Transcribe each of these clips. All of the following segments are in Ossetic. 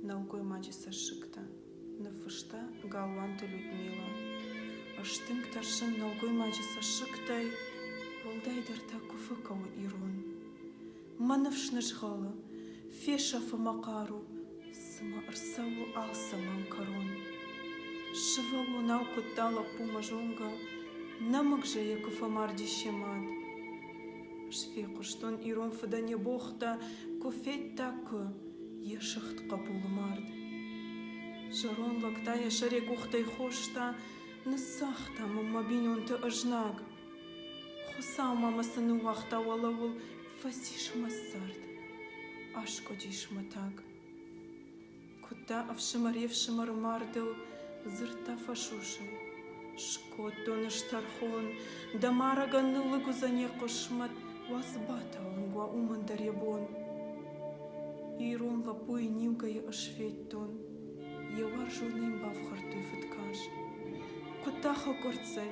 нӕлгоймаджы цӕссыгтӕ ныффыста галуанты людмила стынг тӕрсын нӕлгоймаджы цӕссыгтӕй уӕлдайдӕр та куы фӕкӕуы ирон мӕ ныфс нызгъӕлы фесӕфы мӕ хъару цыма ӕрцӕуы алцӕмӕн кӕрон сывӕллонау куыдта лӕппу мӕ зонгӕ нӕмыг зӕйӕ куы фӕмарди се мад Сфехъуыстон ирон фыдӕн йӕ богътӕ, Куы федта, куы, йӕ сыгъд хъӕбулы мард. Зӕронд лӕг та йӕ сӕре къухтӕй хоста, Ныссагъта мӕм мӕ бинонты ызнаг. Хуыцау ма мӕ цы ныууагъта уӕлӕуыл, Фӕцис мӕ цард, аскъуыдис мӕ таг. Куыдта ӕфсымӕр-йе'фсымӕры мардыл, дзырдта фӕсусӕй. Скодтон ӕз тӕрхон, дӕ марӕгӕн ныллыг уыдзӕн йӕ хъысмӕт, уадзыбатӕ уынг уа уымӕн дӕр йӕ бон. Ирон лӕппуйы ниугӕйӕ ӕз федтон, йӕ уарзонӕй йын бафхӕрдтой фыдкарз. Куыдта хӕкъуырццӕй,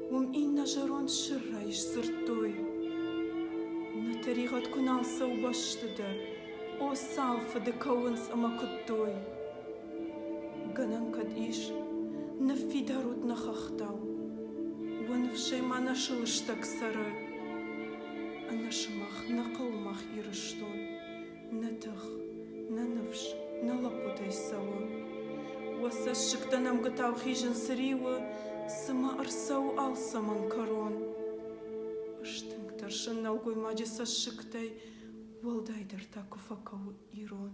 Уым иннӕ зӕронд сыррӕй сдзырдтой: Нӕ тӕригъӕд куы нал цӕуы бӕсты дӕр, О, цал фыды кӕуынц ӕмӕ куыдтой! Гӕнӕн кӕд ис, ныффидарут нӕ хӕхтау, Уӕ ныфсӕй ма нӕ сылыстӕг цӕры. Ӕнӕ сымах, нӕ хъӕумах Ирыстон, Нӕ тых, нӕ ныфс, нӕ лӕппутӕй цӕуы. Уӕ цӕссыгтӕ нӕмгуытау хизын цы риуы, цымӕ ӕрцӕуы алцӕмӕн кӕрон? Стынг тӕрсын нӕлгоймаджы цӕссыгтӕй, уӕлдайдӕр та куы фӕкӕуы ирон.